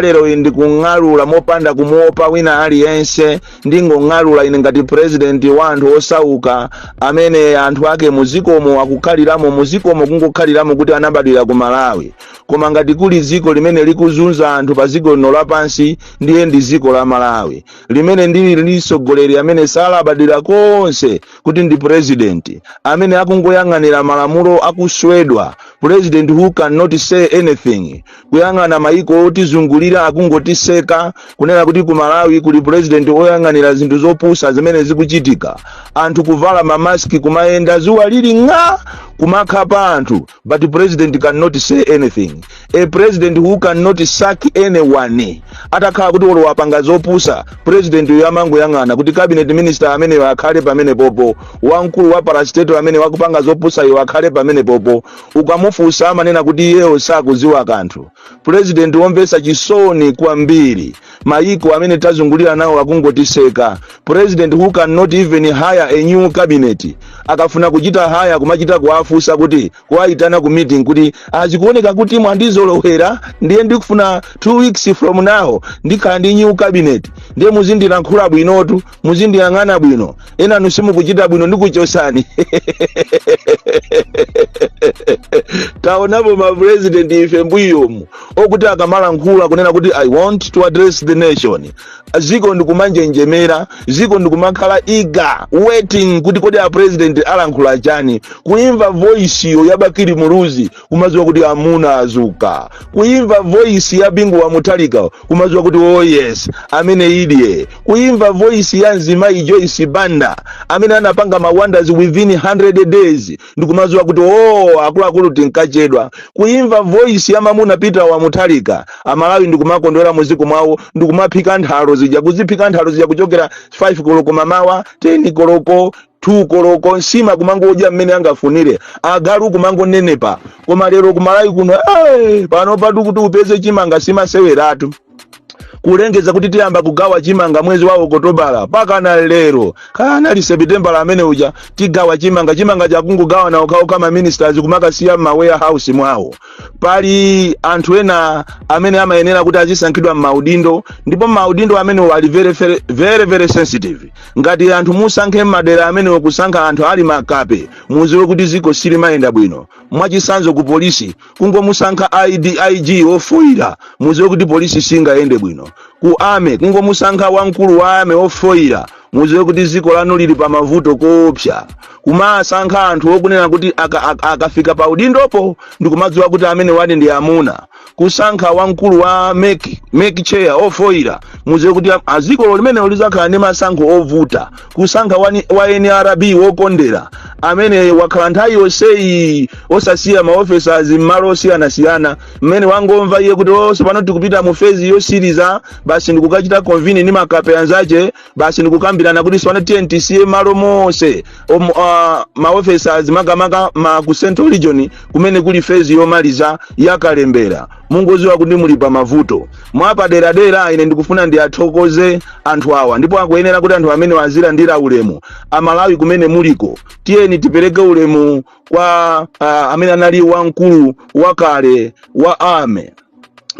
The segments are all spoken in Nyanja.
lero iyi ndikung'alula mopanda kumuopa wina aliyense ndingong'alula ine ngati purezidenti wa anthu osauka amene anthu ake muzikomo akukhaliramo muzikomo kungokhaliramo kuti anabadwira ku malawi koma ngati kuli dziko limene likuzunza anthu pa dziko lino lapansi ndiye ndi dziko la malawi limene ndili li tsogoleri amene salabadira konse kuti ndi purezidenti amene akungoyang'anira malamulo akuswedwa purezidenti who cannot say anything kuyang'ana maiko otizungulira akungotiseka kunena kuti ku malawi kuli purezidenti oyang'anira zinthu zopusa zimene zikuchitika anthu kuvala mamaski kumayenda zuwa lili ng'a kumakhapa anthu but president cannot say anything a president who cannot sack anyone atakhala kuti olo wapanga zopusa president yo amangoyang'ana kuti cabinet minister ameneyo akhale pamenepopo wamkulu wa parastatal amene wakupanga zopusa iwo akhale pamenepopo Ukamufunsa amanena kuti iyeyo sakudziwa kanthu. Pulezidenti womvetsa chisoni kwambiri. Mayiko amene tazungulira nawo akungotiseka. President who cannot even hire a new cabinet. Akafuna kuchita hire kumachita kuwafunsa kuti, kuwaitana ku meeting kuti, ah zikuoneka kuti mwandizolowera ndiye ndikufuna two weeks from now ndikhala ndi new cabinet. Ndiye muzindilankhula bwinotu. muzindiyang'ana bwino enanu simukuchita bwino ndikuchosani taonapo mapresident ife mbuyomu okuti akamalankhula kunena kuti i want to address the nation ziko ndikumanjenjemera ziko ndikumakhala eager waiting kuti kodi apresident alankhula chani kuimva voice yo ya bakili muluzi kumadziwa kuti amuna azuka kuimva voisi ya bingu wa mutharika kumadziwa kuti oh yes amene idye kuimva voisi ya mzimayi joyce banda amene anapanga mawonders within 100 days ndikumadziwa kuti oh akuluakulu tinkachedwa kuimva voisi ya mamuna peter wa mutharika amalawi ndikumakondwera muziko mwawo ndikumaphika nthalo zija kuziphika nthalo zija kuchokera 5 koloko mamawa 10 koloko 2 koloko nsima kumangodya mmene angafunire agalu kumangonenepa koma lero kumalawi kuno hey, panopatu kuti upeze chimanga si maseweratu kulengeza kuti tiyamba kugawa chimanga mwezi wa okotobala pakana lero kanali sepitembala amene uja tigawa chimanga chimangacho akungogawana okhaokha ma ministers kumakasiya mma warehouse mwawo pali anthu ena amene amayenera kuti azisankhidwa mmaudindo ndipo maudindo amene ali very, very, very, very sensitive ngati anthu musankhe m'madera amenewo kusankha anthu ali makape muziwe kuti ziko silimayenda bwino mwachisanzo ku polisi kungomusankha ig ofoyira muziwe kuti polisi singayende bwino ku army kungomusankha wamkulu wa army ofoyira muziwe kuti ziko lanu lili pa mavuto koopsa kumasankha anthu okunena kuti aka- aka- akafika pa udindopo ndikumadziwa kuti amenewa ndi amuna kusankha wamkulu wa mec mec chair ofoyira muziwe kuti zikolo limenelo lizakhala ndi masankho ovuta kusankha wa, wa nrb wokondera amene wakhala nthawi yonseyi osasiya ma officers m'malo osiyanasiyana mmene wangomva iye kuti sopano tikupita mu phase yosiriza basi ndikukachita convene ndi makape anzache basi ndikukambirana kuti swana tiyeni tisiye malo monse om- ah, ma officers makamaka ma ku central region kumene kuli phase yomaliza yakalembera mungoziwa kuti muli pa mavuto mwapaderadera ine ndikufuna ndiyathokoze anthu awa ndipo akuyenera kuti anthu amenewa azilandira ulemu amalawi kumene muliko tiyeni tipereke ulemu kwa uh, amene anali wamkulu wakale wa army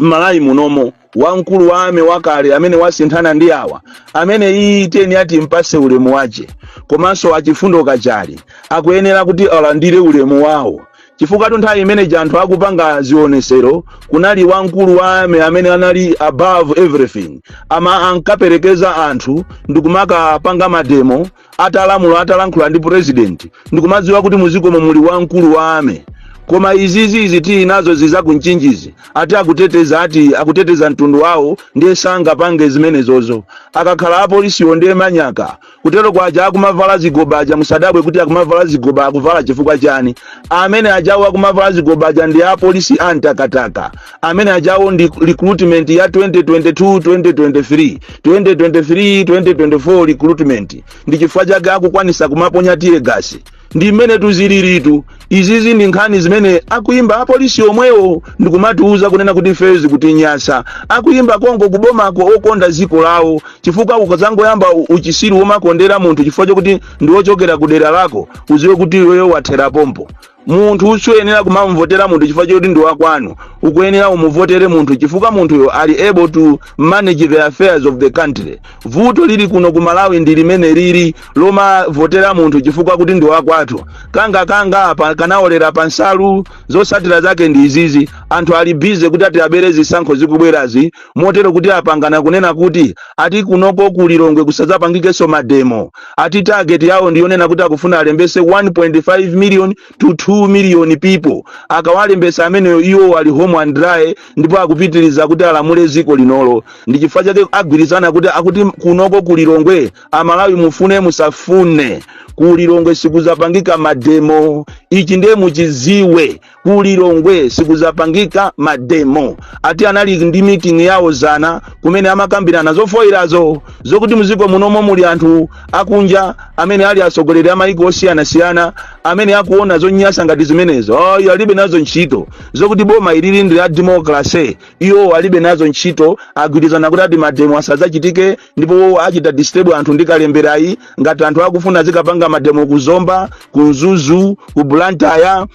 m'malawi munomo wamkulu wa army wakale amene wasinthana ndi awa ameneyi tiyeni timpase ulemu wache komanso a chifundo kachale akuyenera kuti alandire ulemu wawo chifukwatu nthawi imene ija anthu akupanga zionesero kunali wamkulu wa army amene anali above everything ama ankaperekeza anthu ndikumakapanga mademo atalamula atalankhula ndi president ndikumadziwa kuti muzikomo muli wamkulu wa army koma izizi izi tili nazozi za ku mchinjizi ati akuteteza ati akuteteza mtundu wawo ndiye sangapange zimenezozo akakhala apolisiwo ndiye manyaka kuteroko aja akumavala zigoba aja musadabwe kuti akumavala zigoba akuvala chifukwa chani amene ajawo akumavala zigoba aja ndi apolisi a mtakataka amene ajawo ndi recruitment ya 2022 2023 2023 2024 recruitment ndi chifukwa chake akukwanisa kumaponya tear gas ndi mmenetu ziliritu izizi ndi nkhani zimene akuyimba apolisi omwewo ndikumatiuza kunena kuti ifeyo zikutinyasa akuyimba konko kubomako okonda dziko lawo chifukwa ukazangoyamba u- uchisiru womakondera munthu chifukwa chokuti ndi wochokera ku dera lako uziwe kuti iweyo wathera pompo munthu suyenera kumamvotera munthu chifukwa choti ndi wakwanu ukuyenera umuvotere munthu chifukwa munthuyo ali able to manage the affairs of the country vuto lili kuno ku malawi ndi limene lili lomavotera munthu chifukwa kuti ndi wakwathu kanga kanga apa kanaolera pa nsalu zotsatira zake ndi izizi anthu ali busy kuti ati abere zisankho zikubwerazi motero kuti apangana kunena kuti ati kunoko ku Lilongwe kusadzapangikenso mademo ati target yawo ndiyonena kuti akufuna alembese 1.5 million to 2 million people akawalembesa ameneyo iwo ali home and dry ndipo akupitiriza kuti alamule dziko linolo ndi chifukwa chake agwirizana kuti akuti kunoko ku Lilongwe amalawi mufune musafune ku Lilongwe sikuzapangika mademo ichi ndiye muchiziwe ku lilongwe sikuzapangika mademo ati anali ndi meeting yawo zana kumene amakambirana zofoilazo zokuti muziko munomo muli anthu akunja amene ali atsogoleri a maiko osiyanasiyana amene akuona zonyasa ngati zimenezo ayi alibe nazo ntchito zokuti boma ilili ndi la democracy iwo alibe nazo ntchito agwirizana kuti ati mademo asadzachitike ndipo achita disturb anthu ndi kalemberayi ngati anthu akufuna azikapanga mademo ku zomba ku mzuzu ku blantyre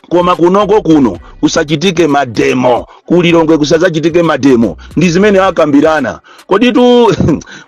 koma kunoko kuno kusachitike mademo kulilongwe kusazachitike mademo ndi zimene akambirana koditu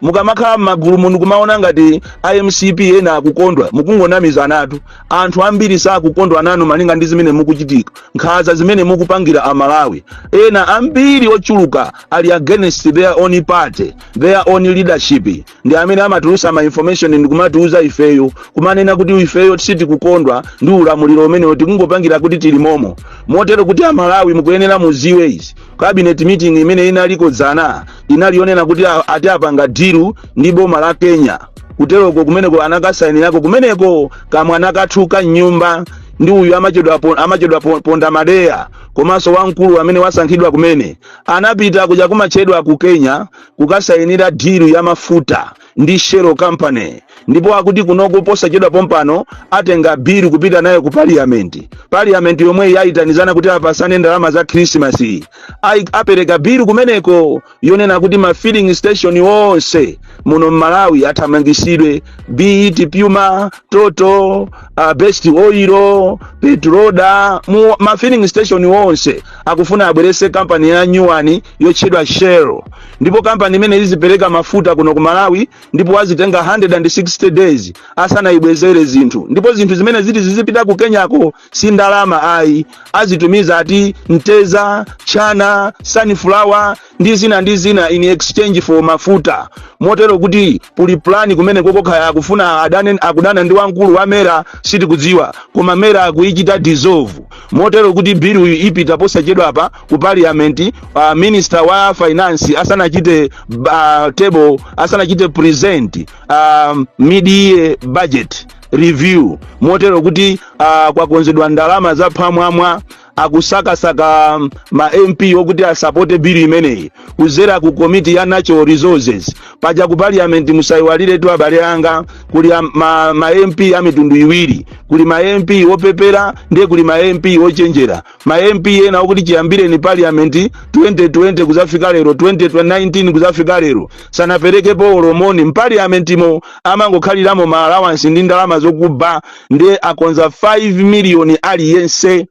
mukamakhala m'magulu muno kumaona ngati a mcp ena akukondwa mukungonamizanatu anthu ambiri sakukondwa nanu malinga ndi zimene mukuchitika nkhaza zimene mukupangira amalawi ena ambiri ochuluka ali against their own party their own leadership ndi amene amatulutsa ma information ndikumatiuza ifeyo kumanena kuti ifeyo sitikukondwa ndi ulamuliro umenewu tikungopangira kuti tili momo motero kuti amalawi mukuyenera muziwe izi cabinet meeting imene inaliko dzana inali yonena kuti a- ati apanga dilu ndi boma la kenya kuteroko kumeneko anakasainirako kumeneko kamwana kathuka mnyumba ndi uyu amachedwa po- amachedwa po- ponda madeya komanso wamkulu amene wasankhidwa kumene anapita kuja kumachedwa ku kenya kukasayinira deal ya mafuta ndi Shell company ndipo akuti kunoko posachedwa pompano atenga bill kupita nayo ku parliament parliament yomweyi yayitanizana kuti apasane ndalama za Christmas iyi. Ayi- apereka bill kumeneko yonena kuti ma filling station onse muno m'Malawi athamangisidwe be it Puma Total uh, Best Oil Petroda mu ma filling station onse akufuna abwerese company yanyuwani yotchedwa shell ndipo kampani imene izipereka mafuta kuno ku malawi ndipo azitenga 160 days asanayibwezere zinthu ndipo zinthu zimene ziti zizipita ku kenyako si ndalama ayi azitumiza ati mtedza chana sunflower ndi zina ndi zina in exchange for mafuta motero kuti puli plani kumene kokokha akufuna akudana ndi wamkulu wa mera sitikudziwa koma mera akuichita dissolve motero kuti bill ipita posachedwapa ku parliament uh, minister wa finance asanachite uh, table asanachite present um, mid-year budget review motero kuti uh, kwakonzedwa ndalama za phwamwamwa akusakasaka um, ma mp okuti asapote bili imeneyi kuzera ku komiti ya natural resources paja ku parliament musayiwaliretu abale anga kuli am- ma, ma mp a mitundu iwiri kuli ma mp opepera ndiye kuli ma mp ochenjera ma mp ena okuti chiyambireni parliament 2020 kuzafika lero 2019 kuzafika lero sanaperekepo olo moni mpaliamentimo amangokhaliramo ma allowance ndi ndalama zokuba ndiye akonza 5 miliyoni aliyense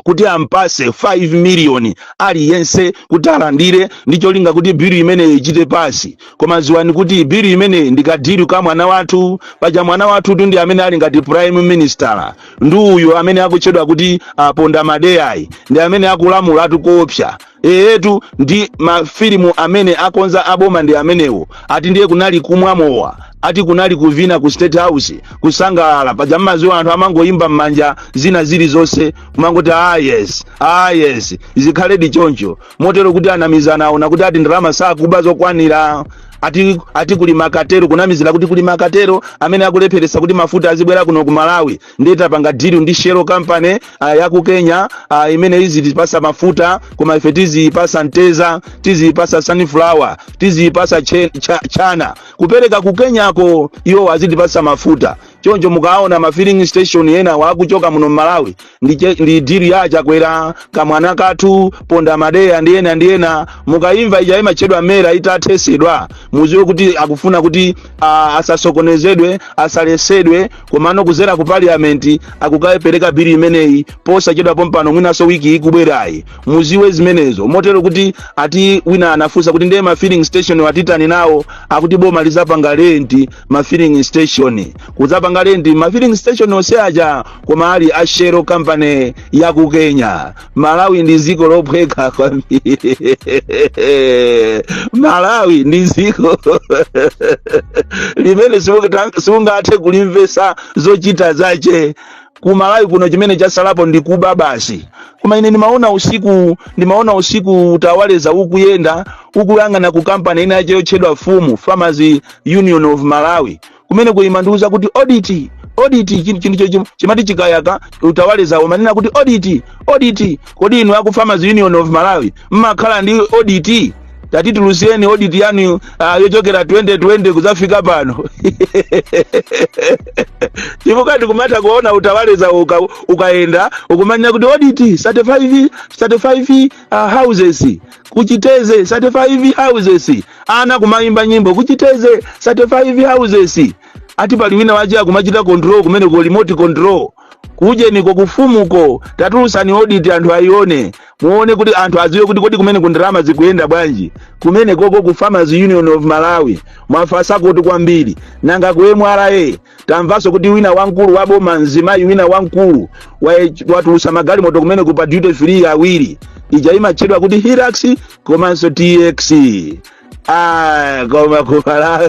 kuti ampase 5 miliyoni aliyense kuti alandire ndi cholinga kuti bilu imeneyi ichite pasi koma ziwani kuti bilu imeneyi ndi kadiru ka mwana wathu paja mwana wathutu ndi amene ali ngati prime minister ndi uyu amene akutchedwa kuti aponda madeyayi ndi amene akulamulatu koopsa eyetu ndi mafilimu amene akonza aboma ndi amenewo ati ndiye kunali kumwa mowa ati kunali kuvina ku state house kusangalala paja mmaziwa anthu amangoyimba mmanja zina zilizonse kumangoti ah yes ah yes zikhaledi choncho motero kuti anamizana aona kuti ati ndalama sakuba zokwanira ati, ati kuli ma cartel kunamizira kuti kuli ma cartel amene akulepheretsa kuti mafuta azibwera kuno ku malawi ndiye tapanga deal ndi shell company uh, ya ku kenya uh, imene izitipasa mafuta koma ife tiziyipasa mteza tiziyipasa sunflower tiziyipasa che- cha- chana kupereka ku kenyako iwo azitipasa mafuta choncho mukaona ma filling station ena akuchoka muno mmalawi ndi, che- ndi deal ya chakwera kamwana kathu ponda madeya ndi ena ndi ena mukayimva ija imatchedwa mera itathesedwa muziwe kuti akufuna kuti ah, asasokonezedwe asalesedwe komano kuzera ku parliament akukapereka bili imeneyi posachedwa pompano mwinaso wiki ikubwerayi muziwe zimenezo motero kuti ati wina anafunsa kuti ndiye ma filling station wa titani nawo akuti boma lizapanga lenti ma filling station kudzapanga lenti ma filling station onse aja koma ali a shell company ya ku kenya malawi ndi dziko lophweka kwambiri malawi ndi dziko limene simungathe kulimvesa zochita zache ku malawi kuno chimene chasalapo ndi kuba basi koma ine ndimaona usiku ndimaona usiku utawaleza ukuyenda ukuyang'ana ku kampani ina yache yotchedwa fumu farmers union of malawi kumeneku imandiuza kuti audit audit chinthu chinthu cho chim- chimati chikayaka utawaleza umanena kuti audit audit kodi inu aku farmers union of malawi mmakhala ndi audit tatitulutsireni audit yanu ah, yochokera 2020 kudzafika pano chifukwa ndikumatha kuona utawaleza uka, ukayenda ukumanena kuti audit 35 35 uh, houses ku chitedze 35 houses ana kumayimba nyimbo ku chitedze 35 houses ati pali wina wache akumachita control kumeneku remote control kuujeniko kufumuko tatulutsani audit anthu ayione muone kuti anthu adziwe kuti kodi kumeneku ndalama zikuyenda bwanji kumenekoko ku farmers union of malawi mwafasa kuti kwambiri nanga ku mra tamvanso kuti wina wamkulu wa boma mzimayi wina wamkulu wa- watulutsa magalimoto kumeneku pa duty free awiri ija imatchedwa kuti hilux komanso tx ah koma ku malawi